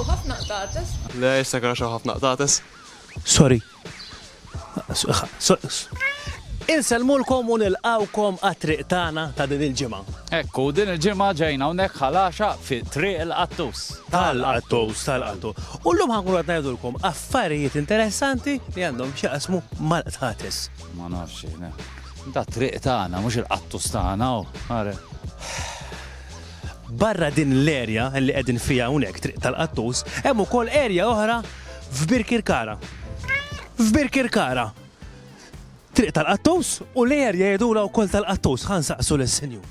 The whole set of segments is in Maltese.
Hawn ħafna qtates. Le, jista' jkun għax hawn ħafna qtates. Sorry. Insellmulkom u nilqawkom għat-triq tagħna ta' din il-ġimgħa. Ekku, din il-ġimgħa ġejna hawnhekk ħalaxa fi Triq il-Qattus. Tal-Qattus, tal-Qattus. U llum ħankun qed ngħidulkom affarijiet interessanti li għandhom x'jaqsmu mal-qtates. Ma nafx jiena. Da triq tagħna, mhux il-qattus tagħna, u. Barra din l-erja li qegħdin fiha hawnhekk, Triq tal-Qattus, hemm ukoll erja oħra f'Birkirkara. F'Birkirkara! Triq tal-Qattus u l-erja jgħidulha wkoll tal-Qattus, ħa nsaqsu lis-Sinjur.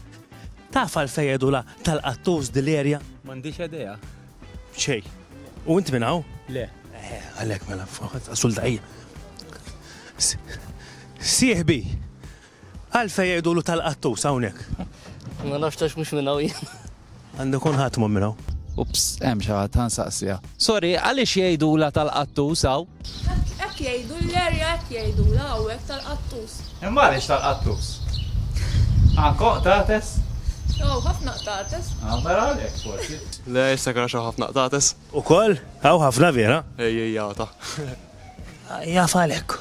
Taf għalfejn jgħidulha tal-Qattus din l-erja? M'għandix idea. Xejn. U int minn hawn? Le. Għalhekk mela, sul daqija. Sieħbi, Għalfejn jgħidulu tal-qattus hawnhekk? Ma nafx għax mhux minn hawn jien. Għandu jkun ħadd mhu minn hawn. Ups, hemm xi ħadd, ħa nsaqsiha. Sorry, għaliex jgħidulha tal-qattus hawn? Hekk jgħidu l-area hekk jgħidulha hawn hekk tal-qattus. Imma għaliex tal-qattus? Hawn hawn qtates? Hawn ħafna qtates. Ah, mela għalhekk forsi. Le, jistek għax hawn ħafna qtates. Ukoll? Hawn ħafna vera? Ejja, ejja ta. Jaf għalhekk.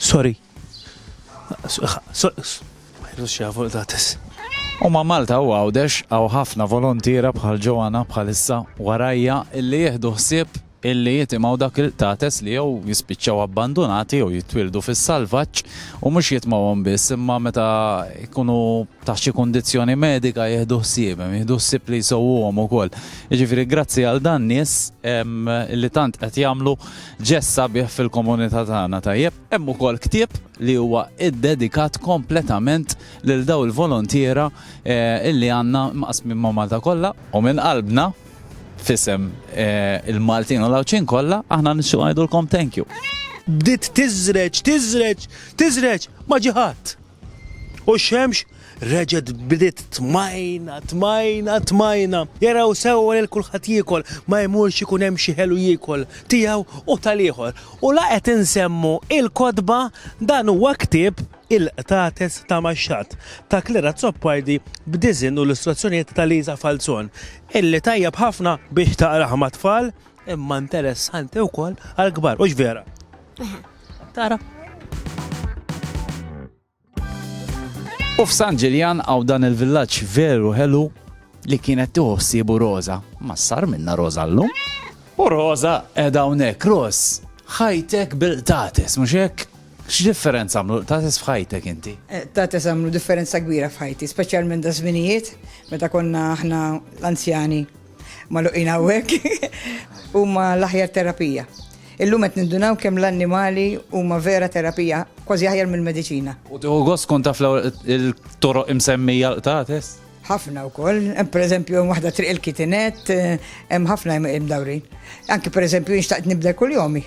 Sorry. U ma' Malta u Għawdex hawn ħafna volontiera bħal Joanna bħalissa warajja illi jieħdu ħsieb illi jitimgħu dak il-qtates li jew jispiċċaw abbandunati jew jitwieldu fis-salvaġġ u mhux jitmgħuhom biss imma meta jkunu taħt xi kundizzjoni medika jieħdu ħsiebhom, jieħdu ħsieb li jsewwuhom ukoll. Jiġifieri grazzi għal dan nies illi tant qed jagħmlu ġest sabiħ fil-komunità tagħna, tajjeb? Hemm ukoll ktieb li huwa iddedikat kompletament lil dawn il-volontiera li għandna mqassmin ma' Malta kollha. U minn qalbna, f'isem il-Maltin u l-Għawdxin kollha, aħna nixtiequ ngħidulkom thank you. Bdiet tiżreġ, tiżreġ, tiżreġ, ma ġie ħadd. U x-xemx reġgħet bdiet tmajna, tmajna, tmajna. Jaraw sewwa lil kulħadd jiekol, ma jmurx ikun hemm xi ħelu jiekol, tiegħu u tal-ieħor. U la qed insemmu il-kotba, dan huwa ktieb Il-qtates ta' Max-Xatt, ta' Claire Azzopardi b'diżinn u illustrazzjonijiet ta' Lisa Falzon, illi tajjeb ħafna biex taqrah mat-tfal, imma interessanti wkoll għall-kbar, hux vera? Tara. U f'San Ġiljan għaw dan il-villaġġ veru ħelu li kienet tiħossibu Rosa. Ma sar minna Rosa llum. U Rosa edha hawnhekk Ros, ħajtek bil-tates, mhux hekk? X'differenza għamlu tates f'ħajtek inti? Eh, tates għamlu differenza kbira f'ħajti, speċjalment da żminijiet meta konna aħna l-anzjani Maluqin hawnhekk huma l-aħjar terapija. Illum qed nindunaw kemm l-annimali huma vera terapija, kważi aħjar mill-mediċina. U tieħu gost kont taf il-toroq imsemmija l-qtates? ħafna wkoll, pereżempju waħda triq il-kitinet, hemm ħafna hemm dawrin. Anki pereżempju jinxtaqt nibda kull jomi.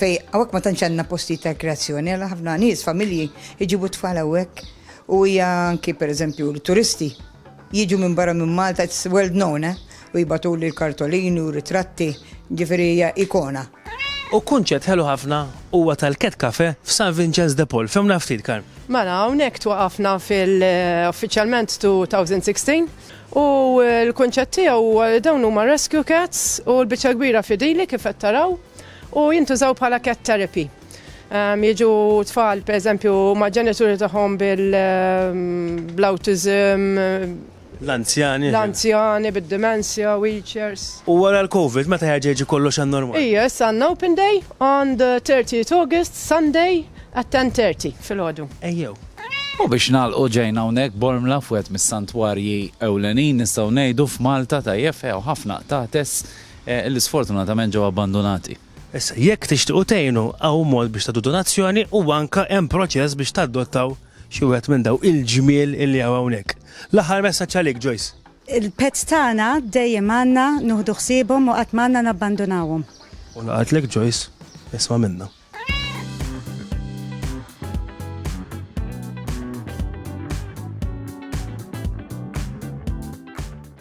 Fejn hawnhekk ma tantx għandna postijiet ta' rikreazzjoni, għala ħafna nies, familji jġibu t-tfal hawnhekk u hija anki pereżempju l-turisti jiġu minn barra minn Malta, it's well known, eh? U jibatuli l-kartolini u ritratti, ġifieri hija ikona. U kunċett ħelu ħafna huwa tal-Cat Cafe f'San Vinċenz de Paul. Fehmna ftit, Karm. Mela, hawnhekk twaqafna fil-uffiċjalment 2016 u l-kunċett tiegħu dawn huma rescue cats u l-biċċa kbira fidili kif qed taraw. u jintużaw bħala cat therapy. Ehm, jiġu tfal, per eżempju, ma' ġenituri tagħhom bil-autism, ehm, L-anzjani. L-anzjani bid-demenzja, wheelchairs. U wara l-Covid, meta ħeġeġi kollox għan normal? Ija, issa għanna open day on the 30th August, Sunday, at 10.30 fil-ħodu. Ejjew. U biex nalqu ġejna unek bormla fwet mis-santwarji ewlenin nistaw nejdu f'Malta ta' jefew ħafna tates li sfortunatament ġew abbandunati. Issa, jekk tixtiequ tgħinu, hawn mod biex tagħtu donazzjoni u anke hemm proċess biex tadottaw xi wieħed minn dawn il-ġmiel li hawn hawnhekk. L-aħħar messaġġ għalik, Joyce. Il-pets tagħna dejjem għandna nuħdu ħsiebhom u qatt ma għandna nabbandunawhom. U ngħaqadlek, Joyce. Isma' minnha.